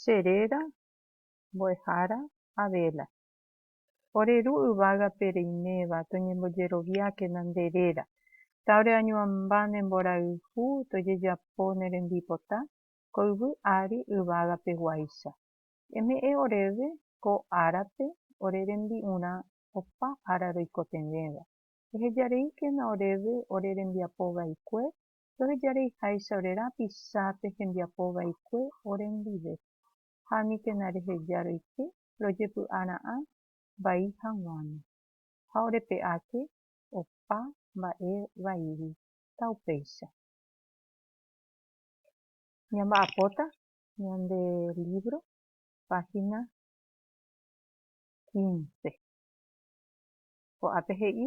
che réra mbo'ehára Abela. Ore ru yvágape reiméva toñembojeroviákena nde réra, ta ore añuãmba ne mborayhu tojejapo ne rembipota ko yvy ári yvágape guáicha. Eme'ẽ oréve ko árape ore rembi'urã opa ára roikotevẽva. Ehejareíkena oréve ore rembiapo vaikue Ndohejareiháicha ore rapichápe hembiapo vaikue orendive, ha aníkena reheja roike rojepy'a ra'ã vai haguãme. Ha orepe'áke opa mba'e vaígui, taupéicha. Ñamba'apóta ñande lívro, páhina quince. Ko'ápe he'i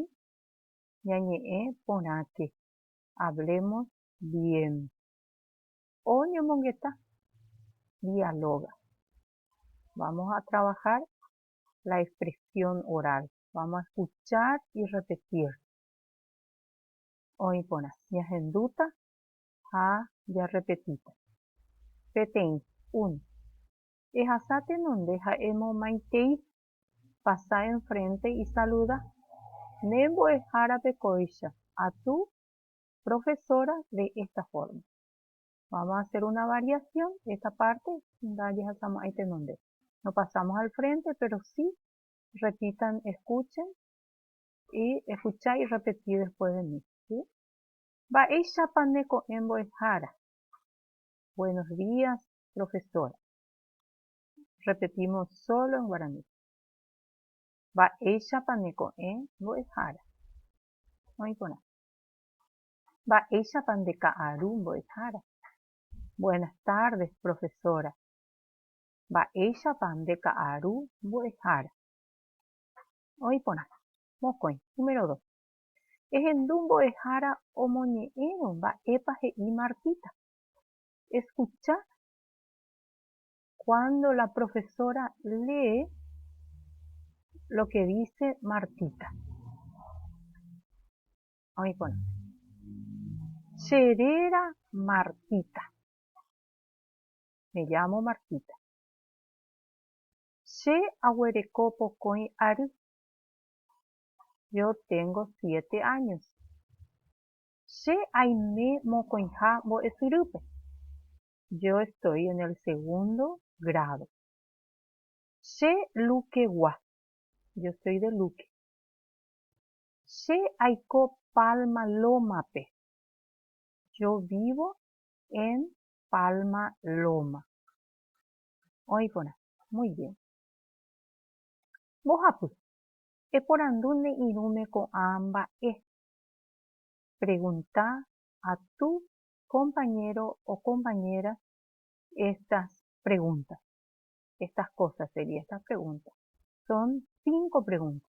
ñañe'ẽ porãke Hablemos bien. Oñomongeta, dialoga. Vamos a trabajar la expresión oral. Vamos a escuchar y repetir. Oĩ porã, ñahendúta ha jarrepetíta. Peteĩ, uno. Ehasa tenonde ha emomaitei pasa enfrénte isaluda, Ne mbo'ehárape kóicha atu profesora de esta forma. Vamos a hacer una variación, esta parte ndajehasama'i tenonde. No pasamos al frente, pero sí repitan, escuchen y escuchá y repetí después de mí. ¿sí? Mba'éichapa ne ko'ẽ mbo'ehára? Buenos días, profesora. repetímos sólo en guaraní. Mba'éichapa ne ko'ẽ mbo'ehára? Oĩ porã. Mba'éichapa nde ka'aru mbo'ehára? Buenas tardes, profesora. Mba'éichapa nde ka'aru mbo'ehára? Oĩ porã. Mokõi, número dos. Ehendu mbo'ehára omoñe'ẽrõ mba'épa he'i Martita. Escuchad cuando la profesora lee lo que dice Martita. Oíkona. Cherera Martita. Me llamo Martita. Che aguereko pokõi ary. Yo tengo siete años. Che aime mokõiha mbo'esyrýpe. Yo estoy en el segundo grado. Che Lukegua. Yo estoy de Luque. Che aiko Palma Loma-pe. Yo vivo en Palma Loma. Oĩ porã. Muy bien. Mbohapy. Eporandu ne irũme ko'ã mba'e. Pregunta a tu compañero o compañera estas preguntas. Estas cosas sería estas preguntas. Son cinco preguntas.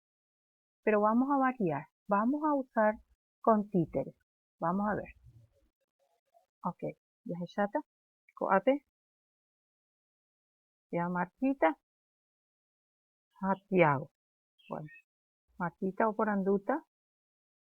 Pero vamos a variar. Vamos a usar con títeres. Vamos a ver. Ok. Ya se chata. Coate. Ya Martita. Santiago. Bueno. Martita o poranduta.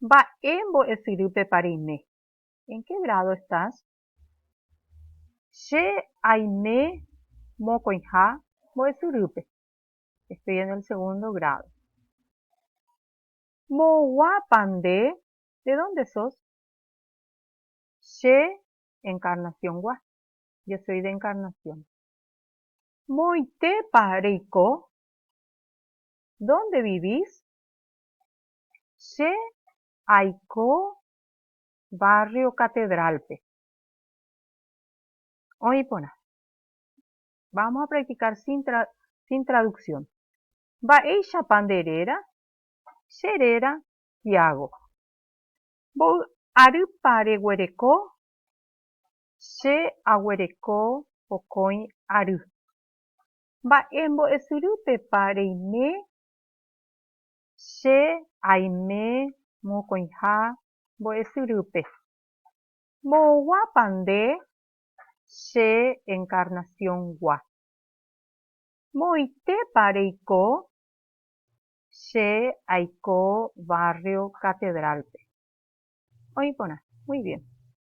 Mba'e mbo'esyrýpepa reime? En qué grado estás? Che aime mokõiha mbo'esyrýpe. Estoy en el segundo grado. Mboguápa nde? De dónde sos? Che Encarnación-gua. Yo soy de Encarnación. Moõitépa reiko? Dónde vivís? Che aiko barrio Catedralpe. Oĩ porã. Vamos a practicar sin traducción. Mba'éichapa nde réra? Che réra Tiago. Mboy arýpa reguereko? Che aguereko mokõi ary. Mba'e mbo'esyrýpepa reime che aime mokõiha mbo'esyrýpe? Mbo'oguápa nde che encarnación-gua? Moõitépa reiko che aiko barrio Catedral-pe? Oĩ porã. Muy bien.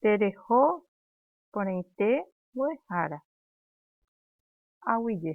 Tereho porãite mbo'ehára. Aguije.